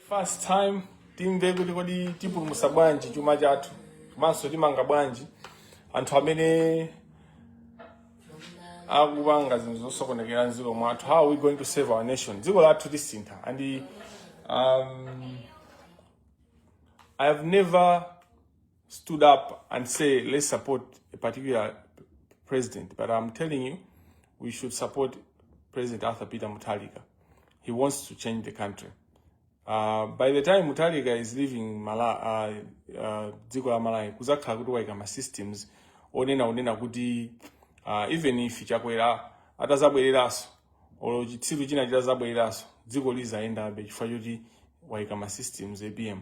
First time timve kuti kodi tipulumutsa bwanji chuma chathu komanso timanga bwanji anthu amene akupanga zinthu zosokonekera mdziko mwathu how are we going to save our nation dziko lathu lisintha and um, i have never stood up and say, let's support a particular president. But I'm telling you, we should support President Arthur Peter Mutharika. He wants to change the country. Uh, by the time Mutharika is leaving Mala, uh, uh, dziko la Malawi, kuzakhala kuti waika ma systems onena onena kuti uh, even if chakwera atazabwereranso olo chitsiru china chitazabwereranso dziko lizayendabe chifukwa choti waika ma systems apm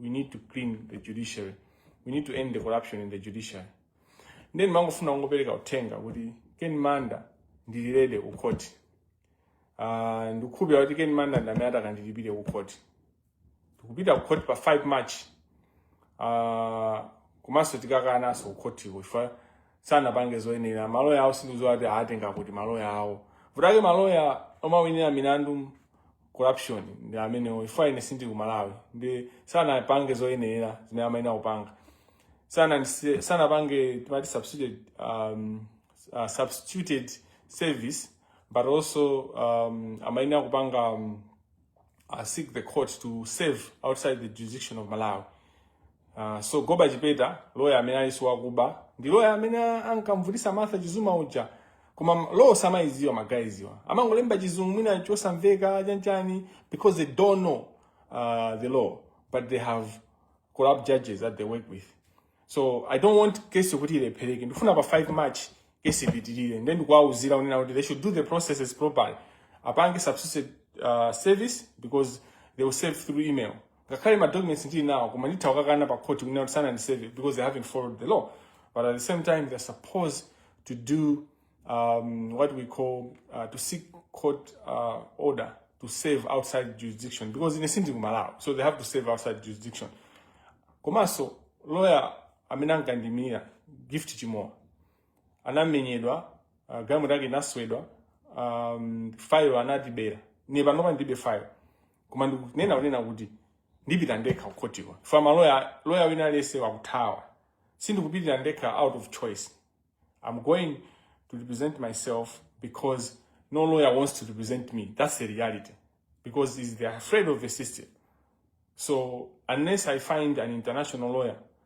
we need to clean the judiciary we need to end the corruption in the judiciary ndiye ndimangofuna kungopereka uthenga kuti ken manda ndili ready ku khoti uh, ndikukhulupira kuti ken manda ndi amene atakandilipire ku khoti tikupita ku khoti pa 5 march uh, komanso tikakananso ku khotiko chifukwa sanapange zoyenera maloya awo sindikudziwa kuti atenga kuti maloya awo vutake maloya omawinira milandu corruption nde amenewo chifukwa ine sindili ku malawi ndi sanapange zoyenera zimene amayenera kupanga sana sanapange timati substituted um, uh, substituted service but also um, amayenera kupanga um, uh, seek the court to serve outside the jurisdiction of malawi Uh, so Goba Chipeta loya amene alinso wakuba ndi loya amene ankamvutisa Martha Chizuma uja koma law samaiziwa magaiziwa amangolemba chizungu mwina chosamveka chanchani because they don't know uh, the law but they have corrupt judges that they work with so i don't want case yokuti ilephereke ndifuna pa 5 march case ipitirire nde ndikuwauzira kunena kuti they should do the processes properly apange substitute uh, service because they will serve through email ngakhale ma documents ndili nawo koma nditha kukakana pa court kunena kuti sanandiseve because they haven't followed the law but at the same time they're supposed to do um, what we call uh, to seek court uh, order to serve outside jurisdiction because ine sindili ku malawi so they have to serve outside jurisdiction komanso lawyer amene ankandimira Gift Chimowa anamenyedwa uh, galimoto yake inaswedwa um, file anatibera ine panopa ndilibe file koma ndikunena kunena kuti ndipita ndekha kukhotiko chifukwa maloya loya wina aliyense akuthawa sindikupitira ndekha out of choice i'm going to represent myself because no lawyer wants to represent me that's the reality because is they're afraid of the system so unless i find an international lawyer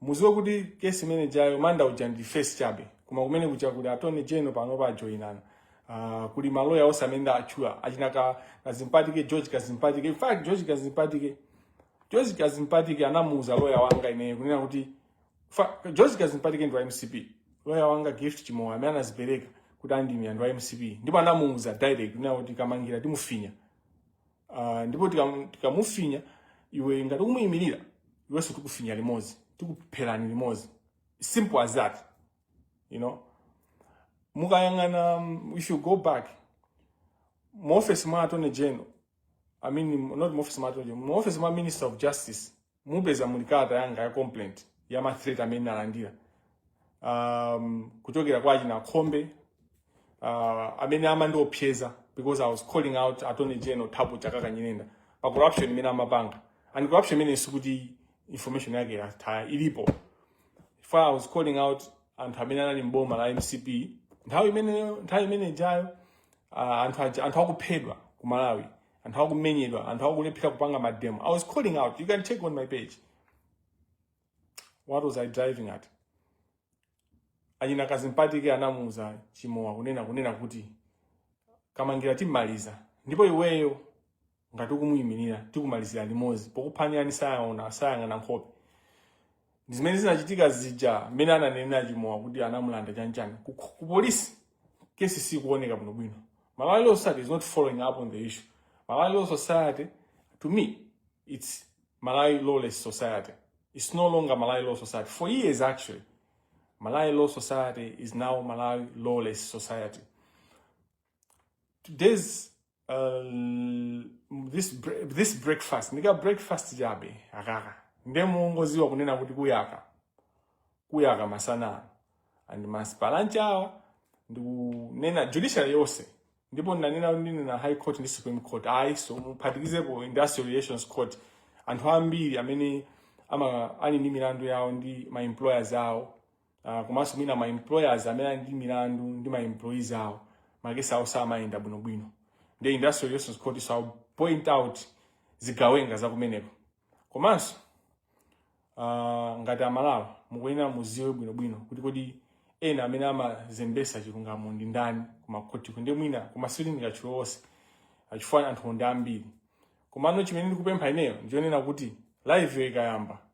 muziwe kuti kesi imene ijayo manda uja ndi face chabe koma kumene kuja kuli attorney general panopa ajoinana uh, kuli maloya onse amene achula achina ka kadzipatike george kazimpatike in fact george kazimpatike george kazimpatike anamuuza loya wanga ineyo kunena kuti fa- george kadzipatike ndi wa mcp loya wanga gift chimowa amene anazipereka kuti andimira ndi wa mcp ndipo anamuuza direct kunena kuti kamangira timufinya Uh, ndipo tikamufinya tika iwe ngati ukumuyimirira iwenso tikufinya limodzi tikupherani limodzi simple as that you know mukayang'ana um, if you go back mu office mwa attorney general i mean not mu office mwa attorney general mu office mwa minister of justice mupeza muli kalata yanga ya complaint ya ma threat amene nalandira um, kuchokera kwa achina khombe uh, amene amandiopseza because i was calling out attorney general thabo chakaka nyirenda pa corruption imene amapanga and corruption imene sikuti information yake yatayika ilipo for i was calling out anthu amene anali mboma la mcp nthawi imeneyo nthawi imene ijayo uh, anthu aja- anthu akuphedwa ku malawi anthu akumenyedwa anthu akulephera kupanga mademo i was calling out you can check on my page what was i driving at achina kadzipatike anamuuza chimowa kunena kunena kuti kamangira timmaliza ndipo iweyo ngati ukumuyimirira tikumalizira limodzi pokuphwanyani sayaona sayang'ana nkhope ndi zimene zinachitika zija mmene ananenera chimowa kuti anamulanda chanchani ku, ku polisi kesi sikuoneka bwino bwino malawi law society is not following up on the issue malawi law society to me it's malawi lawless society it's no longer malawi law society for years actually malawi law society is now malawi lawless society today's Uh, this, bre- this breakfast ndi kabreakfast chabe akaka nde mungoziwa kunena kuti kuyaka kuyaka masana ano and ma super lunch awa ndikunena judiciary yonse ndipo ndanena kuti ndinena high court ndi supreme court also muphatikizepo industrial relations court anthu ambiri amene ama ali ndi milandu yawo ndi ma employers awo uh, komanso mwina ma employers amene ali ndi milandu ndi ma employees awo makesi awo samayenda bwinobwino ndi industrial relations court so point out zigawenga zakumeneko komanso uh, ngati amalawi mukuyenera muziwe bwinobwino kuti kodi ena amene amazembesa chilungamo ndi ndani kumakhoti ku nde mwina kumasindika chilowose chifukwa anthu ndi ambiri komano chimene ndikupempha ineyo ndichonena kuti live ikayamba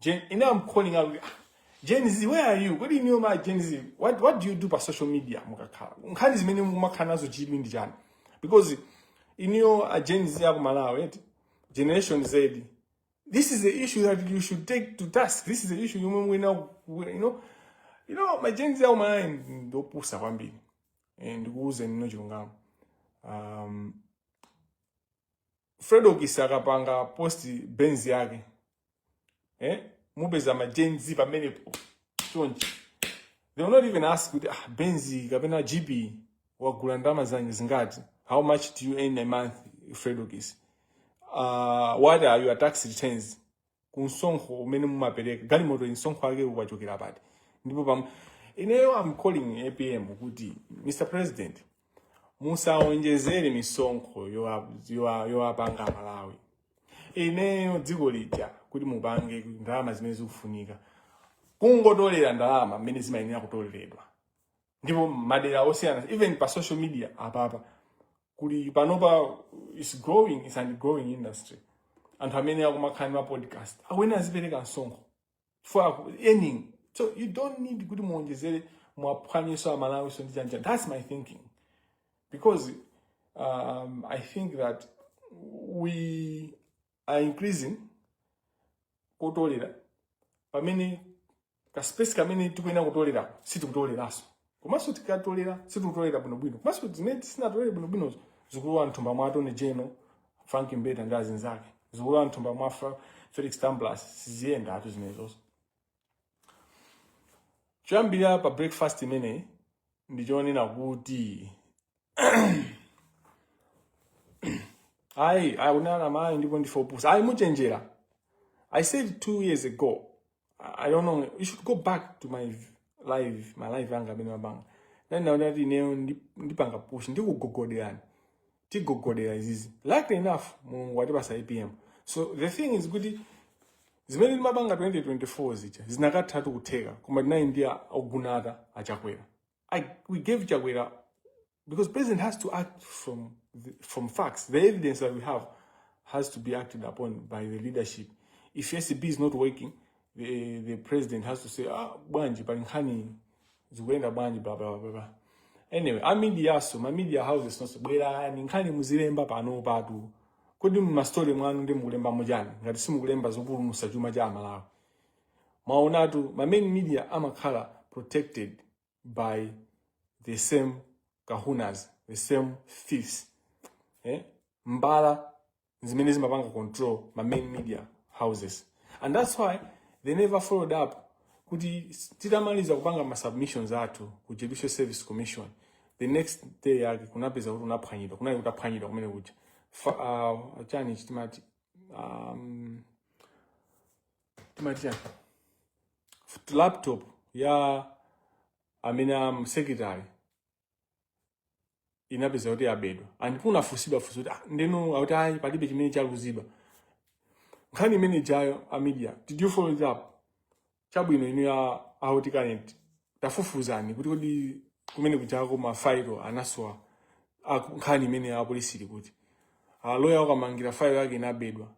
Gen, you know I'm calling out. Gen Z, where are you? Kodi inuyo ma Gen Z, what, what do you do pa social media mukakhala? Nkhani zimene mumakhala nazo chidwi ndi chani? Because inuyo a Gen Z aku Malawi, eti? Generation Z, this is the issue that you should take to task. This is the issue yomwe muyenera ku- you know, you know ma Gen Z aku Malawi ndopusa kwambiri. Eh, Ndikuwuzeni ino chilungamo. Um, Fredokis akapanga post Benz yake eh, mupeza ma Gen Z pamenepo chonchi, they will not even ask kuti ah, Benz kapena GP wagula ndi ndalama zanji zingati, how much do you earn a month Fredokis, uh, what are your tax returns ku msonkho umene mumapereka galimotoyi msonkho wake ukuchokera pati ndipo pam ineyo am calling apm kuti mr president musawonjezere misonkho yowa- yowa- yowapanga amalawi ineyo dziko lija kuti mupange ndalama zimene zikufunika kungotolera ndalama mmene zimayenera kutoleredwa ndipo madera osiyana even pa social media apapa kuli panopa is growing it's an growing industry anthu amene akumakhala ndi mapodcast akuyenera azipereka msonkho for earning so you don't need kuti muonjezere muwaphwanyenso amalawinso ndi chanichani that's my thinking because um, i think that we are increasing kutolera pamene kaspace kamene tikuyenera kutolera sitikutoleranso komanso tikatolera sitikutolera bwinobwino komanso zimene sitinatolere bwinobwinozo zikulowa mthumba mwa attorney general frank mbeta ndi azinzake zikulowa mthumba mwa Fra- felix tamblas siziyendatu zimenezonso choyambira pa breakfast imeneyi ndi chonena kuti ayi akunama amayi ndipo ndife opusa ayi muchenjera i said two years ago i don't know you should go back to my live my live anga amene ndimapanga nane ndinanena kuti ineyo ndi- ndipanga push ndikugogoderani tigogodera izizi luckily enough mulungu watipatsa apm so the thing is kuti zimene timapanga 2024 zija zinakathatha kutheka koma tinali ndi a- ogonata achakwera I, we gave Chakwera, because president has to act from, the, from facts. The evidence that we have has to be acted upon by the leadership. If ACB is not working, the, the president has to say, ah, bwanji, pali nkhani, zikuenda bwanji, blah, blah, blah, blah. Anyway, a media so, ma media houses inunso, bwerani, nkhani muzilemba pano patu. Kodi mmastori mwanumo mukulembamo chani, ngati simukulemba zopulumutsa chuma cha amalawi. Mwaonatu, ma main media amakhala protected by the same kahunas, the same thieves. Eh? Mbava zimene zimapanga control ma main media houses. And that's why they never followed up kuti titamaliza kupanga ma submissions athu ku Judicial Service Commission the next day yake kunapeza kuti unaphwanyidwa kunali kutaphwanyidwa kumene kuja uh, chani chitimati um, chitimati laptop ya amene a secretary inapeza kuti yabedwa and kunafunsidwa funso kuti ah, ndiyeno akuti ayi palibe chimene chaluzidwa nkhani imene ijayo a media did you follow it up chabwino inu a Auti Kalenti tafufuzani kuti kodi kumene kujako mafailo anasowa nkhani imeneyi apolisi ili kuti aloya ah, wakamangira failo yake inabedwa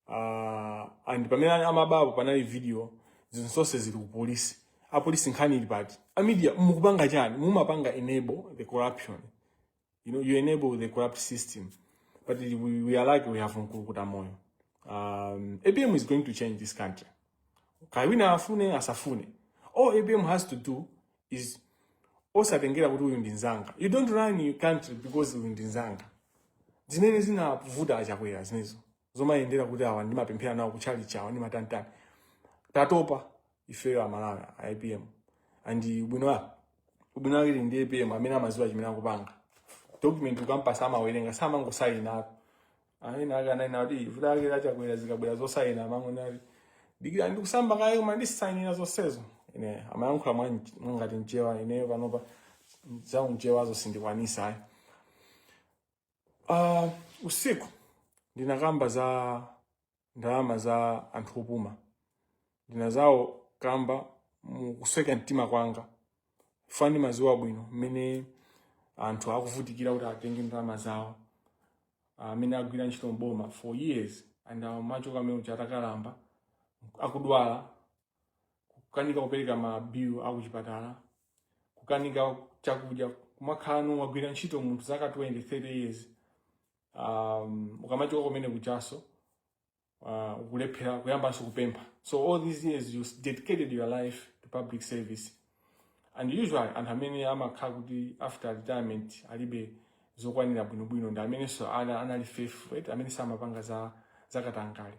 uh, and pamene amaba apo panali video zinthu zonse zili ku polisi apolisi nkhani ili pati a media mukupanga chani mumapanga enable the corruption you know you enable the corrupt system but we, we are like we have mkulukuta moyo um, apm is going to change this country kaya wina afune asafune all apm has to do is osatengera kuti uyu ndi nzanga you don't run your country because uyu ndi nzanga zimene zinavuta achakwera zimenezo zomayendera kuti awa ndimapemphera nawo kutchalichi awa ndimatantani tatopa ifeyo amalawi a apm and ubwino wake ubwino wake ali ndi apm amene amadziwa chimene akupanga document ukampatsa amawerenga samangosayinako ayina ake anayina kuti vuto lake la Chakwera zikabwera zosayina amangoti dikira ndikasambe kaye koma ndisayinira zonsezo ine amayankhula mwangati mchewa ineyo panopa zaunchewazo sindikwanisa ayi Uh, usiku ndinakamba za ndalama za anthu opuma ndi anzawo kamba mukusweka mtima kwanga chifukwa ndimadziwa bwino mmene anthu akuvutikira kuti atenge ndalama zawo amene uh, agwira ntchito mboma for years and amachoka kumene kuja atakalamba akudwala kukanika kupereka ma bill a kuchipatala kukanika chakudya kumakhala kuti wagwira ntchito munthu zaka 20 30 years um, ukamachoka kumene kujanso uh, ukulephera kuyambanso kupempha so all these years you dedicated your life to public service and usually anthu amene amakhala kuti after retirement alibe zokwanira bwinobwino ndi amenenso ana- anali faithful right? amene samapanga zakatangale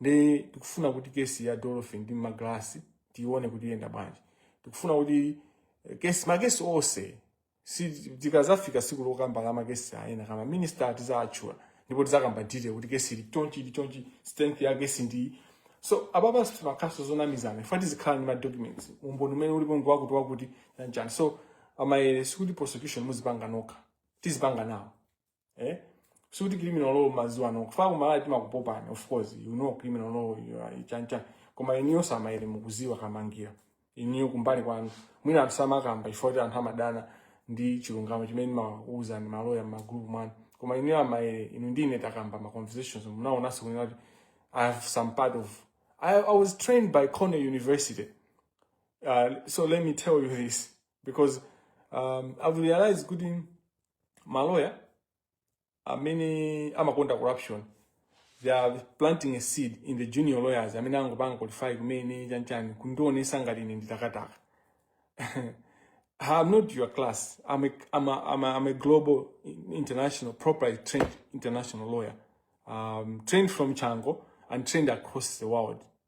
ndiye tikufuna kuti kesi ya Dolphin ndi Magrasi tiione kuti yenda bwanji. Tikufuna kuti eh, kesi makesi onse tikazafika siku lokamba la makesi a ena a ma minister tizawatchula ndipo tizakamba detail kuti kesi ili chonchi ili chonchi strength ya kesi ndi so ababa sitimakhalanso zonamizana ife tizikhala ndi ma documents umboni umene ulipo ngwakuti wakuti nanjani so a Maele sikuti prosecution muzipanga nokha tizipanga nawo eh sikuti criminal law mumaziwa nokha kuno ku Malawi timakupopani of course you know criminal law you are chancha koma iniyo a Maele mukuziwa kamangira iniyo kumbali kwanu mwina anthu samakamba chifukwa kuti anthu amadana ndi chilungamo chimene amakuuzani maloya mmagrupu mwanu koma iniyo a Maele inu ndi ine takamba ma conversations munaonanso kunena kuti i have some part of i, I was trained by cornell university uh, so let me tell you this because um, i've realized kuti maloya amene amakonda corruption they are planting a seed in the junior lawyers amene angopanga qualify kumene chanchani kundionesa ngati ine nditakataka I'm not your class. I'm a, I'm a, I'm a, I'm a global, international, properly trained international lawyer. Um, trained from Chango and trained across the world.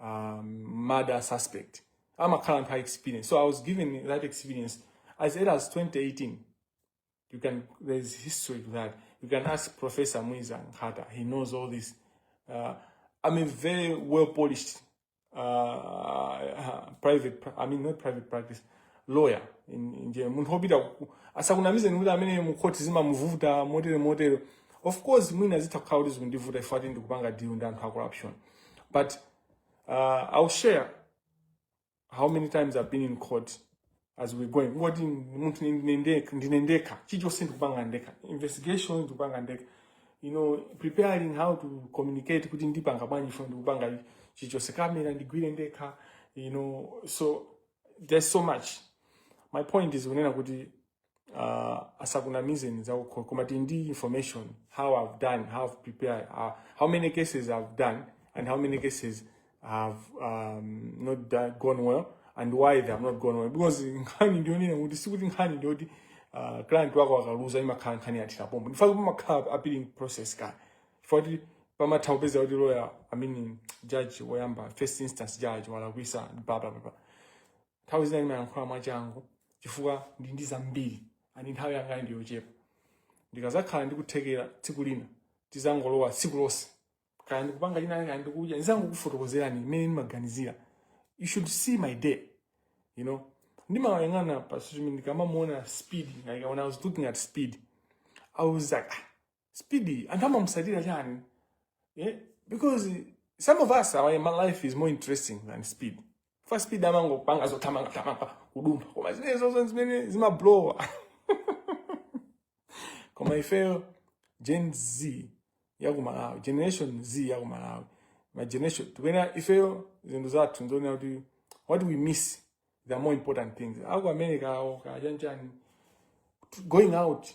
um, murder suspect. I'm a current high experience. So I was given that experience as early as 2018. You can, there's history to that. You can ask Professor Mwiza Nkhata. He knows all this. Uh, I'm a very well polished uh, uh, private, I mean, not private practice, lawyer in India. Munthu wopita asakunamize nikuti amene mukhoti zimamuvuta motere motere. Of course, mwina zitha kukhala kuti zikundivuta ife ati ndikupanga deal ndi anthu a corruption. But uh, I'll share how many times I've been in court as we're going. Ngati munthu ndine ndekha, chichonse ndikupanga ndekha, investigation ndikupanga ndekha. You know, preparing how to communicate kuti ndipanga bwanji fo ndikupanga chichonse kamera ndigwire ndekha, you know, so there's so much. My point is kunena kuti uh, asakunamizeni za ukoko koma tili ndi information how i've done how i've prepared uh, how many cases i've done and how many cases have um, not done, gone well and why they have not gone well because nkhani ndiyonena kuti sikuti nkhani ndiyoti uh, client wako akaluza imakhala nkhani yathera pompo ndichifukwa chake pamakhala appealing process ka chifukwa kuti umatha kupeza kuti lawyer i mean judge woyamba first instance judge walakwisa blah blah blah blah. nthawi zina ndimayankhula mwachangu chifukwa ndili ndi zambiri andi nthawi yanga ndi yochepa ndikazakhala ndikuthekera tsiku lina tizangolowa tsiku lonse kaya ndikupanga china kaya ndikudya ndizangokufotokozerani mmene ndimaganizira you should see my day you know ndimayang'ana pa social media ndikamamuona speed like when i was looking at speed i was like ah, Speed, anthu amamusatira chani? Yeah? Because some of us, our, my life is more interesting than speed. Chifukwa speed amangopanga zothamanga thamanga kudumpha koma zimenezozo zimene zimablowa koma ifeyo gen z yakumalawi generation z yakumalawi my generation tikuyenera ifeyo zinthu zathu nzoonera kuti what we miss the more important things aku america awo chanichani going out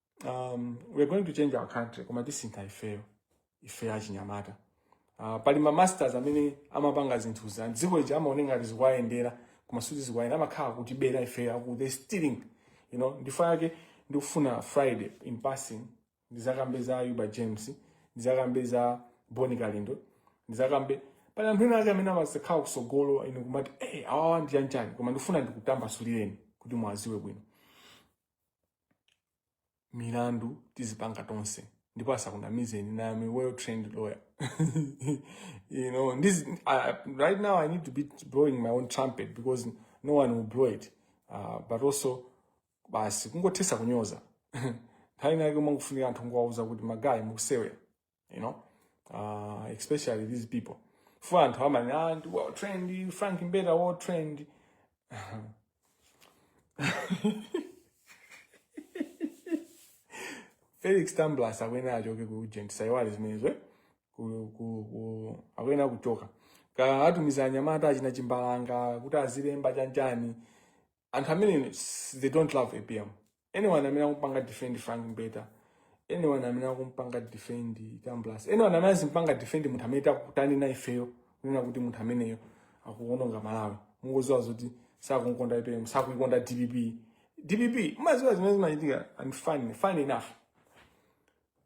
um, we are going to change our country koma tisintha ifeyo ifeyo achinyamata uh, pali ma masters amene amapanga zinthu za dziko lija amaone ngati zikuwayendera koma suti zikuwayenda amakhala akutibera ifeyo aku they stealing you know ndichifukwa chake ndikufuna friday in passing ndizakambe za Ayuba james ndizakambe za boni kalindo ndizakambe pali anthu ena ake amene amazakhala kusogolo ine kumati hey, awawa ndi chanichani koma ndikufuna ndikutambasulireni kuti mwaziwe bwino milandu tizipanga tonse ndipo asakunamizeni ine i am a well trained lawyer you know this uh, right now i need to be blowing my own trumpet because no one will blow it uh, but also basi kungothesa kunyoza nthawi inayake umangofunika anthu ngowauza kuti magayi mukusewera you know uh, especially these people for anthu amene ah, ndi well trained frank mbeta well trained felix tambulasi akuyenera achoke ku ag ndisaiwale zimenezo eh? Ku- ku- ku- akuyenera kuchoka Ka- atumiza anyamata achina chimbalanga kuti azilemba chani chani anthu amene s- they don't love apm anyone amene akumpanga defend frank mbeta anyone amene akumpanga defend tambulasi anyone amene azimpanga defend munthu amene takutani naye ifeyo kunena kuti munthu ameneyo akuononga malawi mungoziwa zoti sakunkonda apm sakuikonda dpp dpp mumaziwa zimene zimachitika and fun funny enough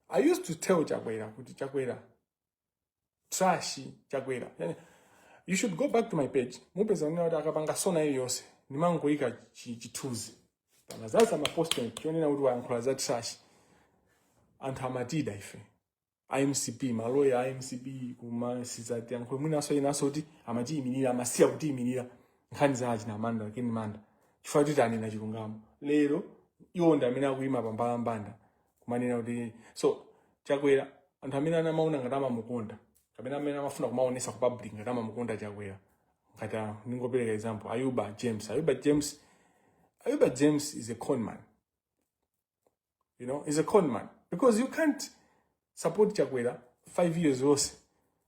i used to tell chakwera kuti chakwera trash chakwera yani, you should go back to my page mupeza kunena kuti akapanga sona iliyonse ndimangoyika chi- chithunzi pana zaza maposting chonena kuti wayankhula za trash anthu amatida ife amcp maloya a mcp kumasizati yankho mwinaso inaso kuti amatiyimirira amasiya kutiyimirira nkhani za achina manda ken manda chifukwa kuti tanena chilungamo lero iwo ndi amene akuyima pambalambanda kumanena kuti so chakwera anthu amene anamaona ngati amamukonda kapena amene amafuna kumaonesa ku public ngati amamukonda chakwera ngati a- ndingopereka example ayuba james ayuba james ayuba james is a con man you know he's a con man because you can't support chakwera five years yonse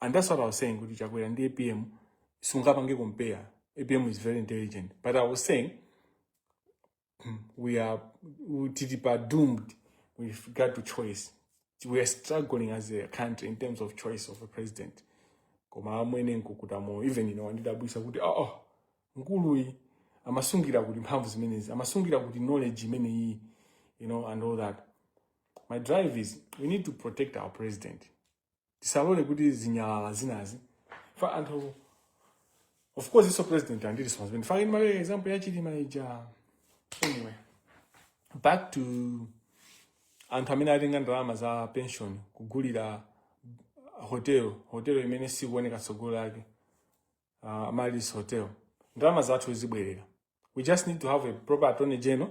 and that's what i was saying kuti chakwera ndi apm sungapange compare apm is very intelligent but i was saying hmm, we are we- tili pa doomed with regard to choice we are struggling as a country in terms of choice of a president koma amwene nkukuta moyo even ine wandidabwisa kuti oh, oh mkuluyi amasungira kuti mphamvu zimenezi amasungira kuti knowledge imeneyi you know and all that my drive is we need to protect our president tisalole kuti zinyalala zinazi fa anthu of course iwoso president ali ndi responsibility for in my example ya chilima ija anyway back to anthu amene atenga ndalama za pension kugulira hotel hotel imene sikuoneka tsogolo lake uh, amaryllis hotel ndalama zathu zibwerera we just need to have a proper attorney general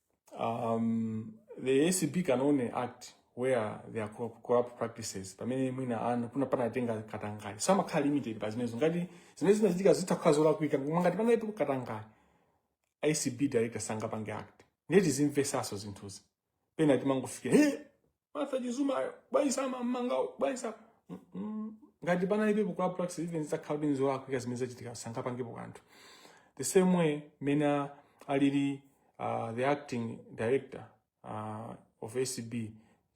um, the acb can only act where there are corrupt practices pamene mwina anu kuna panatenga katangale so amakhala limited pa zimenezo ngati zimene zinachitika zitha kukhala zolakwika koma ngati panalibepo katangale acb director sangapange act ndiye tizimvesaso zinthuzi pena timangofikira hey! Martha Chizumayo bwanji samammanga awo bwanji sama Mm, mm. ngati panalibepo corrupt practice even zitakhala kuti nzolakwika zimene zachitika sangapangepo kanthu the same way mmene alili uh, the acting director uh, of acb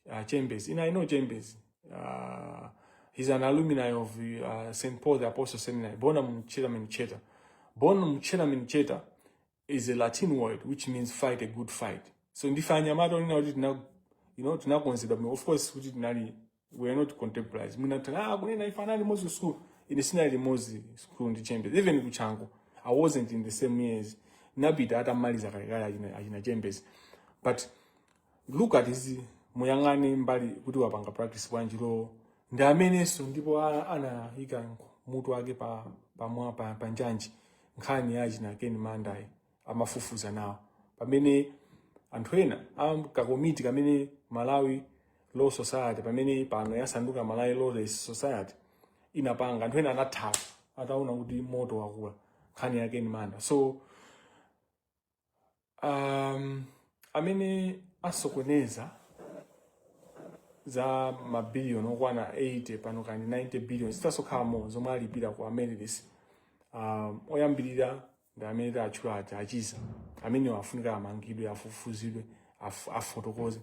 uh, Chembezi ine i know Chembezi uh, he's an alumni of uh, st paul the apostle seminary bonum certamen certa bonum certamen certa is a Latin word which means fight a good fight. So ndife anyamata onena kuti tina you know tinakonzedwa bwino. Of course kuti tinali we are not contemporaries. Mwina atha ah kunena ife anali limodzi ku school. Ine sinali limodzi school ndi Chembezi. Even ku Chanco I wasn't in the same years. Napita atamaliza kalekale achina achina Chembezi. But look at this muyang'ane mbali kuti wapanga practice bwanji law ndi amenenso ndipo a- anayika mutu wake pa pamwa pa, pa njanji nkhani ya achina Ken Mandayi amafufuza nawo pamene anthu ena a kakomiti kamene Malawi Law Society pamene pano yasanduka Malawi Law Society inapanga anthu ena anathawa ataona kuti moto wakula nkhani ya Ken Manda so um, amene asokoneza za mabiliyoni okwana 80 pano kaya ndi 90 billion zithaso kukhalamo zomwe alipira ku Amaryllis um, oyambirira ndi amene tawatchula aja a Chiza amenewo afunika amangidwe afufuzidwe af, afotokoze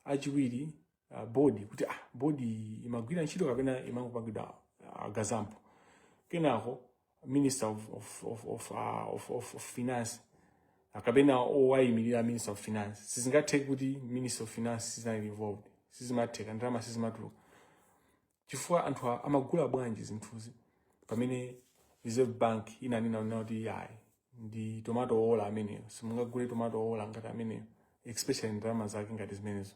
achiwiri uh, bodi kuti ah, bodi imagwira ntchito kapena imangopangidwa uh, gazump kenako minister of, of, of, of, uh, of, of, of finance uh, kapena owayimirira minister of finance sizingatheke kuti minister of finance sinali involved sizimatheka ndalama sizimatuluka chifukwa anthu a- amagula bwanji zinthuzi pamene reserve bank inanena nena kuti yayi ndi tomato owola ameneyo simungagule tomato owola ngati ameneyo especially ndalama zake ngati zimenezo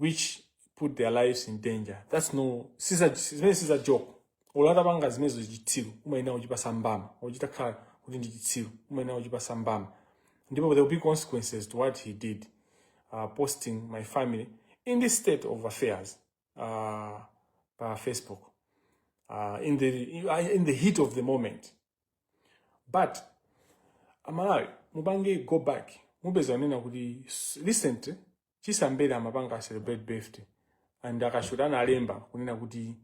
which put their lives in danger that's no siza zimene siza joke olo atapanga zimenezo chitsiru umayenera kuchipasa mbama chitakhala kuti ndi chitsiru umayenera kuchipasa mbama ndipo there will be consequences to what he did uh, posting my family in this state of affairs uh, pa facebook uh, in, the, in the heat of the moment but amalawi mupange go back mupeza kunena kuti s- recent chisambere amapanga celebrate birthday and a kashuta analemba kunena kuti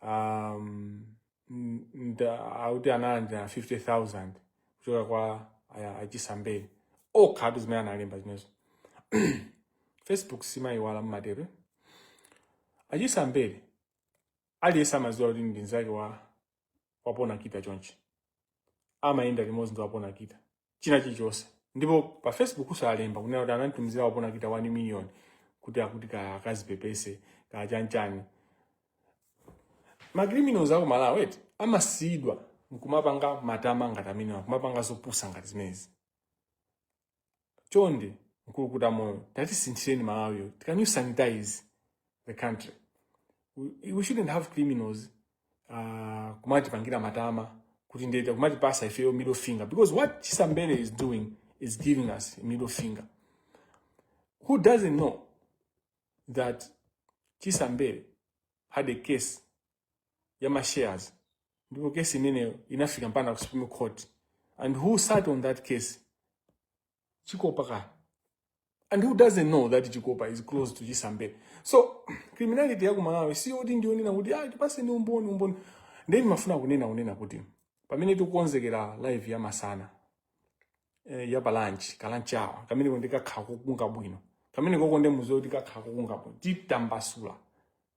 um, n- nda- akuti analandira 50000 kuchoka kwa aya- achisambere okhawatu zimene analemba zimenezo facebook simayiwala mmatero achisambere aliyense amadziwa kuti ndi mnzake wa wapona kita chonchi amayenda limodzi ndi wapona kita china chilichonse ndipo pa facebook kusalemba kunena kuti ananditumizira wapona kita 1 million kuti akuti ka akazipepese ka chanchani macriminals aku malawi eti amasiyidwa nkumapanga matama ngati amenewa nkumapanga zopusa ngati zimenezi chonde mkulukuta moyo tatisinthireni malawiyo can you sanitize the country we, we shouldn't have criminals uh, kumatipangira matama kuti ndeti kumatipasa ifeyo middle finger because what chisambere is doing is giving us a middle finger who doesn't know that chisambere had a case ya ma shares ndipo case imeneyo inafika mpaka ku supreme court and who sat on that case chikopa ka and who doesn't know that chikopa is close to chisambere so criminality ya ku malawi siyoti ndinena kuti ah tipaseni umboni umboni nde nimafuna kunena kunena kuti pamene tikukonzekera live ya masana eh, ya pa lunch ka lunch hour kamene konde kakhala kokunga bwino kamene kokonde muziwe kuti kakhala kokunga bwino titambasula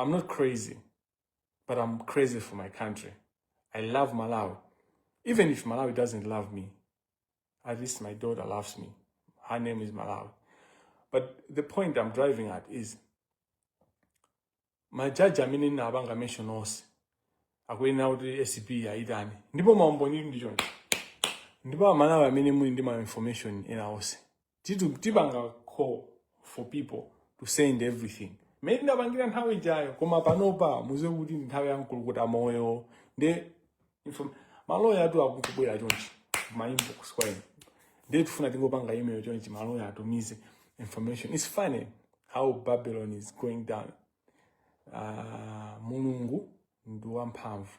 I'm not crazy, but I'm crazy for my country. I love Malawi. Even if Malawi doesn't love me, at least my daughter loves me. Her name is Malawi. But the point I'm driving at is majaji amene ndinapanga mention onse akuyenera kuti acb iwayitane ndipo maumboni ndili nawo chonchi ndipo amalawi amene muli ndi ma information ena onse titu tipanga call for people to send everything mmene tinapangira nthawi ijayo koma panopa muziwe kuti ndi nthawi ya mkulukuta moyo nde inform- maloyawatu akungobwera chonchi ma inbox kwa ine nde tifuna tingopanga email chonchi maloya atumize information it's funny how babylon is going down Ah, mulungu ndi wamphamvu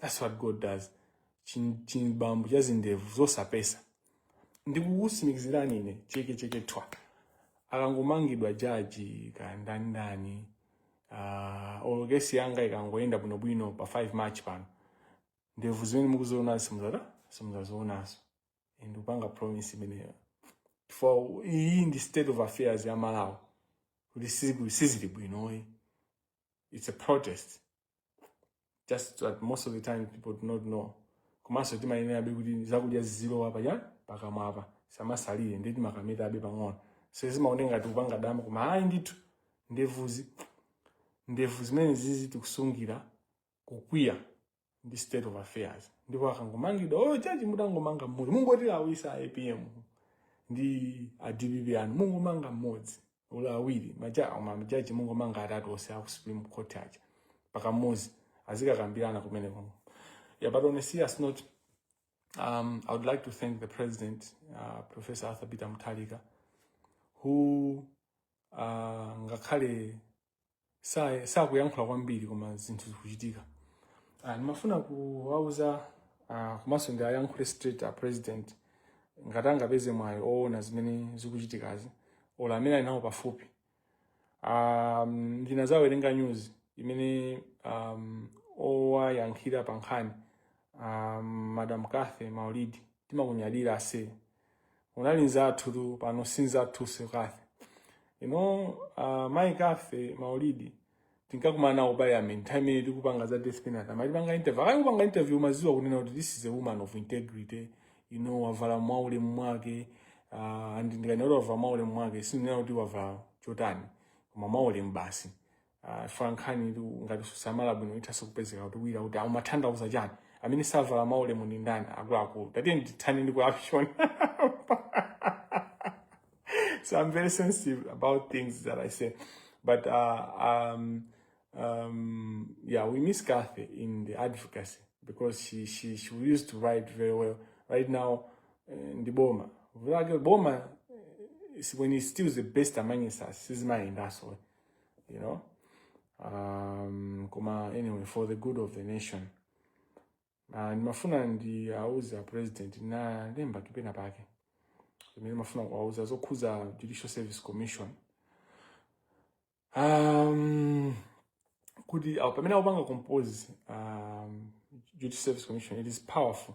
that's what god does Chin- chibambo cha zindevu zosapesa ndikukusimikizirani ine cheke cheke twa akangomangidwa jaji ken manda ndi uh, all case yanga ikangoyenda bwinobwino pa 5 march pano ndevu zimene mukuziona simuzata simuzazionaso ndikupanga promise imeneyo for iyi ndi state of affairs ya malawi kuti siku- sizili bwinoyi it's a protest just that most of the time people do not know komanso timayenerabe kuti zakudya zizilowa apa pakamwa apa samasalire ndiye timakametabe pang'ono so zimaoneka ngati kupanga dama koma ayi ndithu ndevuzi ndevu zimene zizi tikusungira kukwiya ndi state of affairs ndipo akangomangidwa oyo oh, jaji mutangomanga mmodzi mungotilawisa apm ndi a dpp anu mungomanga mmodzi ola awiri majaji mungomanga atatu onse aku supreme court aja pakamozi azikakambirana kumene komko yeah but on a serious note um, i would like to thank the president uh, professor arthur peter mutharika who uh, ngakhale sakuyankhula kwambiri koma zinthu zikuchitika ah, ndimafuna kuwauza ah, komanso ndiwayankhule straight a president ngati angapeze mwayi oona zimene zikuchitikazi ola amene ali nawo pafupi um, ndinazawerenga news imene um, owayankhulira pa nkhani um, madam kathy maulidi timakunyadira ase unali nzathutu pano si nzathuso kathy you know uh, mai kathy maulidi tinkakumana nawo ku parliament time imene tikupanga za death penalty amatipanga interview akakupanga interview umaziwa kunena kuti this is a woman of integrity you know wavala mwaulemu mwake uh, and ndikanena kuti wavala mwaulemu mwake sindinena kuti wavala chotani koma mwaulemu basi Ah, chifukwa nkhani ngati susamala bwino ithaso kupezeka kutuwira kuti umatanthauza chani amene savala mwaulemu ndi ndani akuluakulu tatiyeni tithane ndi corruption so i'm very sensitive about things that i say but uh, um, um, yeah we miss kathy in the advocacy because she, she, she used to write very well right now eh, ndi boma Vuto lake boma is when it steals the best among us sizimayendaso you know um, koma anyway for the good of the nation uh, ndimafuna ndiwauze a president ndalemba kale penapake zimene ndimafuna kuwauza zokhuza judicial service commission um, kuti au- pamene akupanga compose um, judicial service commission it is powerful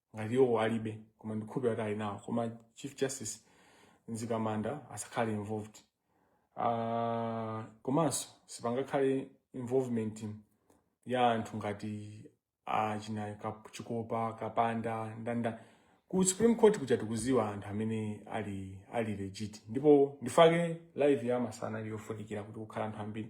ngati iwo alibe koma ndikhulupira kuti ali nawo koma chief justice nzikamanda asakhale involved uh, komanso sipangakhale involvement ya anthu ngati achina ah, uh, chikopa kapanda ndani ndani ku supreme court kuja tikuziwa anthu amene ali ali legit ndipo chifukwa chake live ya masana ili yofunikira kuti kukhale anthu ambiri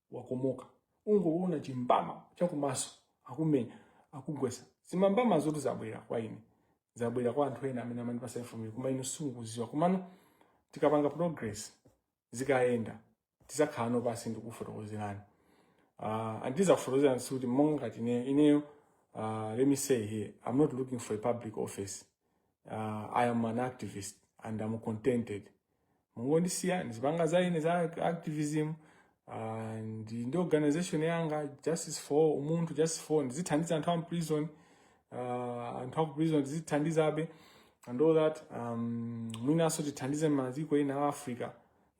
wakomoka ungoona chimbama chakumaso akumenya akugwesa zimambama zoti zabwera kwa ine zabwera kwa anthu ena amene amandipasa information koma inu simukuziwa komano tikapanga progress zikayenda tizakhalano pansi ndikufotokozerani uh, ah, and ndizakufotokozerani sikuti monga ngati ineyo ineyo uh, let me say here i'm not looking for a public office uh, i am an activist and i'm contented mungondisiya ndizipanga za ine za activism ah, ndi ndi organization yanga justice for umunthu justice for ndizithandiza anthu a mprison ah, anthu a ku prison ndizithandizabe and all that um, mwinanso tithandize maiko ena a africa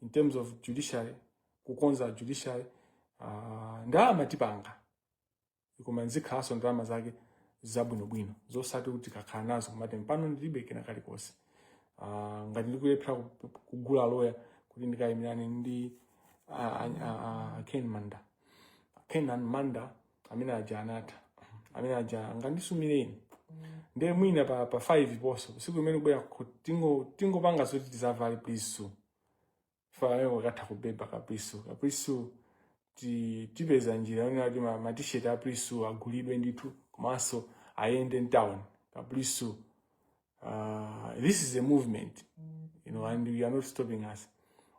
in terms of judiciary kukonza judiciary uh, ndalama tipanga koma zikhalanso ndalama zake zabwinobwino zosati kuti kakhala nazo kumati pano ndilibe kena kalikonse Ah, ngati ndikulephera ku- kugula loya kuti ndikayimirane ndi ah, ah, ah, ah, ken manda kenan manda amene aja anatha amene aja akandisumireni ndiye mwina pa, pa 5 ponso siku imene kubwera ku- tingo- tingopanga zoti tizavale priso falayo wakatha kubeba kapriso kapriso ti- tipeza njira yonena kuti ma- matisheti a priso agulidwe ndithu komanso ayende mtown kapriso uh, this is a movement you know and you are not stopping us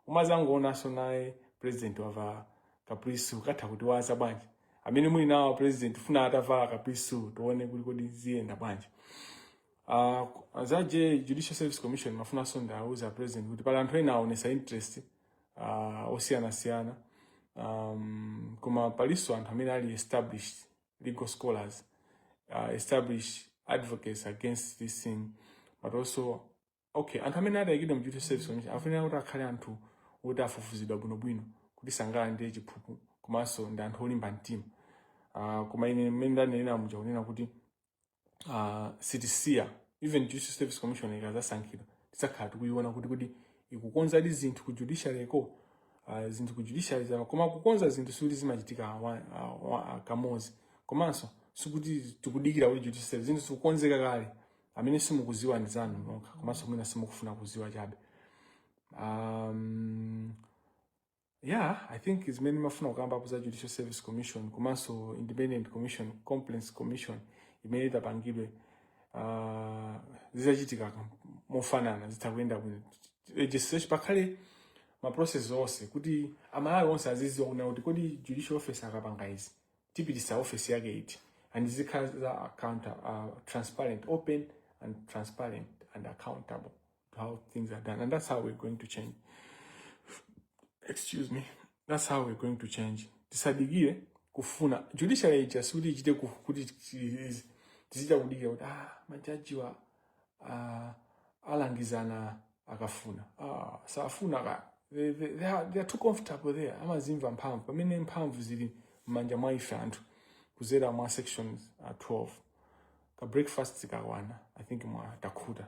muzangoonanso naye president wavala kapriso katha kutiuza bwanji amene muli nawo president funa atavala kapriso tione kuti kodi ziyenda bwanji Uh, za J Judicial Service Commission mafunanso ndiwauza a president kuti pali anthu ena aonesa interest uh, osiyanasiyana um, koma palinso anthu amene ali established legal scholars uh, established advocates against this thing but also okay anthu amene ataikidwe mu judicial service commission afunira kuti akhale anthu oti afufuzidwa bwinobwino kuti sangalandire chiphuphu komanso ndi anthu olimba mtima uh, koma ine mmene ndanenera muja kunena kuti uh, sitisiya even judicial service commission ikazasankhidwa tizakhala tikuyiona kuti kuti ikukonzadi zinthu ku judiciaryko uh, zinthu ku judiciary zawo koma kukonza zinthu sikuti zimachitika kamozi komanso sikuti tikudikira kuti judicial service zinthu zikukonzeka kale amene simukuziwa ndi inu nokha komanso mwina simukufuna kuziwa chabe um, Yeah, I think zimene mafuna kukambako za Judicial Service Commission komanso Independent Commission, Complaints Commission imene itapangidwe uh, zizachitika mofanana zitha kuyenda bwino legislation pakhale ma process onse kuti amalawi onse aziziwa kunena kuti kodi judicial officer akapanga izi tipitisa office yake iti and zikhala za account uh, transparent open and transparent and accountable how things are done. And that's how we're going to change. Excuse me. That's how we're going to change. Tisadikire kufuna judiciary ija sikuti ichite kuti tizichita kudikira kuti ah, majajiwa ah, alamgizana akafuna ah, safuna ka they, they, they, are, they are too comfortable there amazimva mphamvu pamene mphamvu zili m'manja mwa ife anthu kuzera mwa sections uh, 12 ka breakfast zikakwana i think mwa takhuta